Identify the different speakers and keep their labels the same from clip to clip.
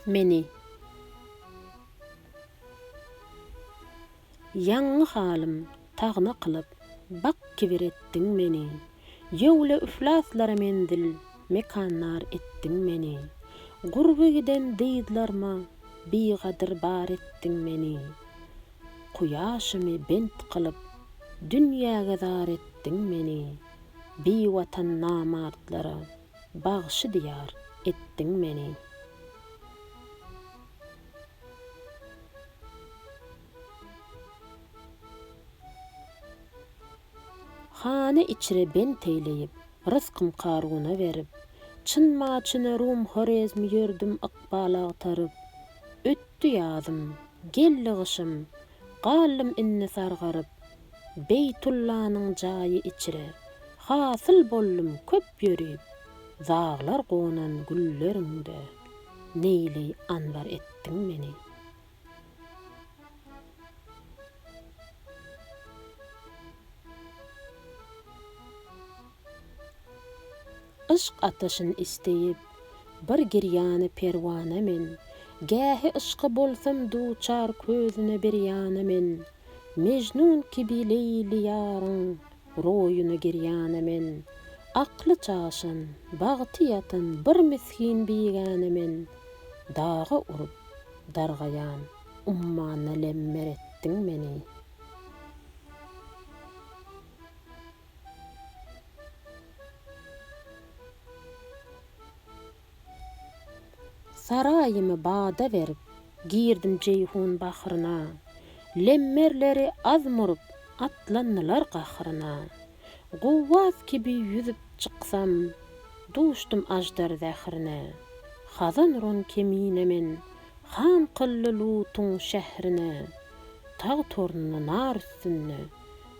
Speaker 1: Meni. Ýaňňy halym tagna kylyp, bak kibir etdiň meni, Ýöwle üflaslara menzil, mekanlar etdiň meni, Gurby giden dyzlaryma bigadyr bar etdiň meni, Kuýaşymy bent kylyp, dünýäge zar etdiň meni, Biwatan namartlara Bagşy diýar etdiň meni. Hany içre bent eýleýip, Rysgym Karuna berip, Çyn-ma-çyna Rum-Horezm Ýördüm ykbal agtaryp. Ötdi ýazym, geldi gyşym, Galdym indi sargaryp, Beýtullanyň jaýy içre. Hasyl boldum köp ýörip. Daglar gonan gülleriňde. Neýli anbar etdiň meni. Yşk ataşyn isdeyip, bir girýana perwana men, Gähi yşka bolsam duçar közüne bir ýana men, Mejnun kibi Leýli ýaryň roýuna girýana men, Akly çaşan, bagty ýatan bir misgin bigäne men, Daga urup, dargaýan ummana lemmer etdiň meni. Saraýymy bada berip, girdim Jeýhun bahryna, Lemmerleri az murup, atlandylar gahryna. Guwwas kibi ýüzüp çyksam, duşdum aždar zährine, Hazanrun kemine men, han kyldy Lutuň şährine. Tag torunly nar üstünde.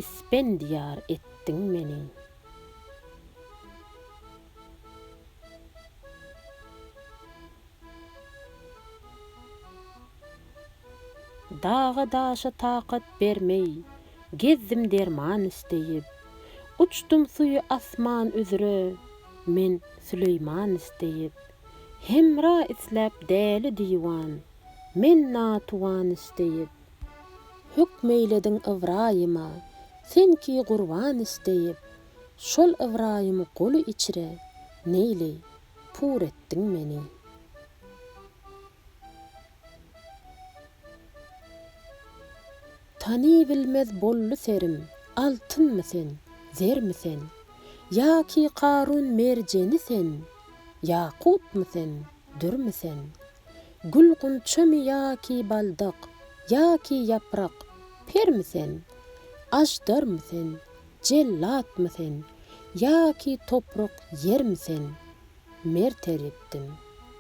Speaker 1: Ispendiýar etdiň meni. Daga-daşa takat bermeý, Gezdim derman isleýip. Uçdum suwy asman üzre, Men Süleýman isleýip. Hemra isläp däli-diwan, Men natuwan isleýip. Hükm eýlediň Ybraýyma, sen ki gurban isleýip, Şol Ybraýym guly içre, neýli, pur etdiň meni. Tanybilmez boldy serim, altynmy sen, zermi sen, Ýa ki Karun merjeni sen, ýakutmy sen, dürmi sen. Gül-gunçamy ýa-ki baldak, ýa-ki ýaprak, Permi sen? Aždarmy sen? Jellatmy sen? Ýa-ki toprak, ýermi sen? Mert eritdiň,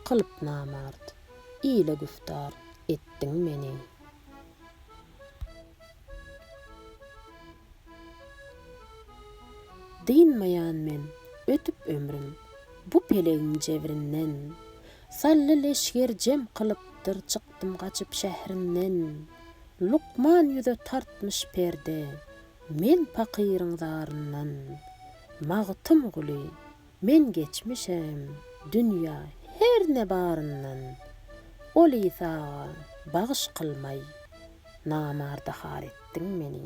Speaker 1: kylyp namart, Ile güftar etdiň meni. Dynmaýan men ötüp ömrüm, Bu pelegiň jebrinden. Sally leşger jem kylypdyr çykdym gaçyp şährinden. Lukman ýüze tartmyş perde, men pakyryň zaryndan. Magtymguly, men geçmişem, dünýä, her ne baryndan. Ol Isaga bagyş kylmaý, namarda har etdiň meni.